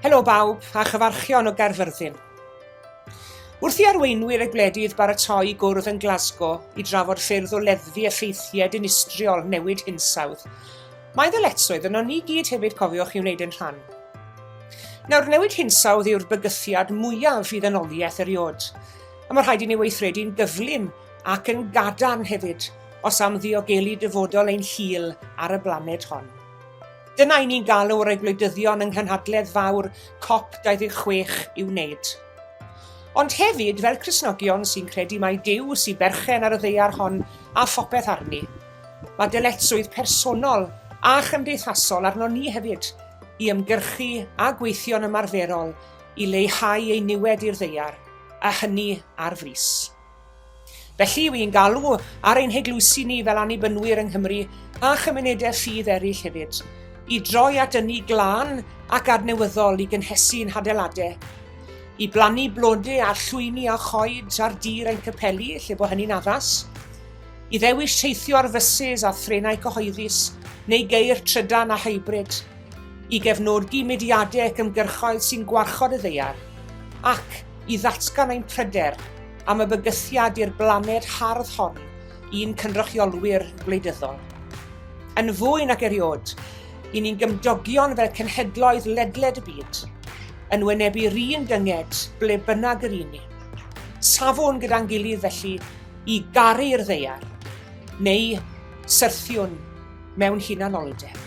Helo bawb a chyfarchion o Gaerfyrddin. Wrth i arweinwyr y gwledydd baratoi gwrdd yn Glasgow i drafod ffyrdd o leddfu effeithiau dinistriol newid hinsawdd, mae ddyletswydd yno ni gyd hefyd cofiwch i wneud yn rhan. Nawr, newid hinsawdd yw'r bygythiad mwyaf i ddynoliaeth eriod, a mae rhaid i ni weithredu'n gyflym ac yn gadarn hefyd os am ddiogelu dyfodol ein hil ar y blaned hon. Dyna i ni'n galw rei gwleidyddion yng nghynhadledd fawr COP26 i'w wneud. Ond hefyd fel Crisnogion sy'n credu mai Duw sy'n berchen ar y ddeiar hon a phopeth arni. Mae dyletswydd personol a chymdeithasol arno ni hefyd i ymgyrchu a gweithio'n ymarferol i leihau ei niwed i'r ddeiar. a hynny ar frys. Felly, yw i'n galw ar ein heglwysi ni fel annibynwyr yng Nghymru a chymunedau ffydd eraill hefyd, i droi at ynni glân ac adnewyddol i gynhesu'n hadeiladau, i blannu blode a llwyni a choed ar dir ein capeli lle bod hynny'n addas, i ddewis teithio ar fysus a threnau cyhoeddus neu geir trydan a hybrid, i gefnogi mudiadau ac ymgyrchoedd sy'n gwarchod y ddaear, ac i ddatgan ein pryder am y bygythiad i'r blaned hardd hon i'n cynrychiolwyr gwleidyddol. Yn fwy nag eriod, i ni'n gymdogion fel cenhedloedd ledled y byd, yn wynebu'r un dynged ble bynnag yr un ni. Safwn gyda'n gilydd felly i garu'r ddeiar, neu syrthiwn mewn hunanoldeb.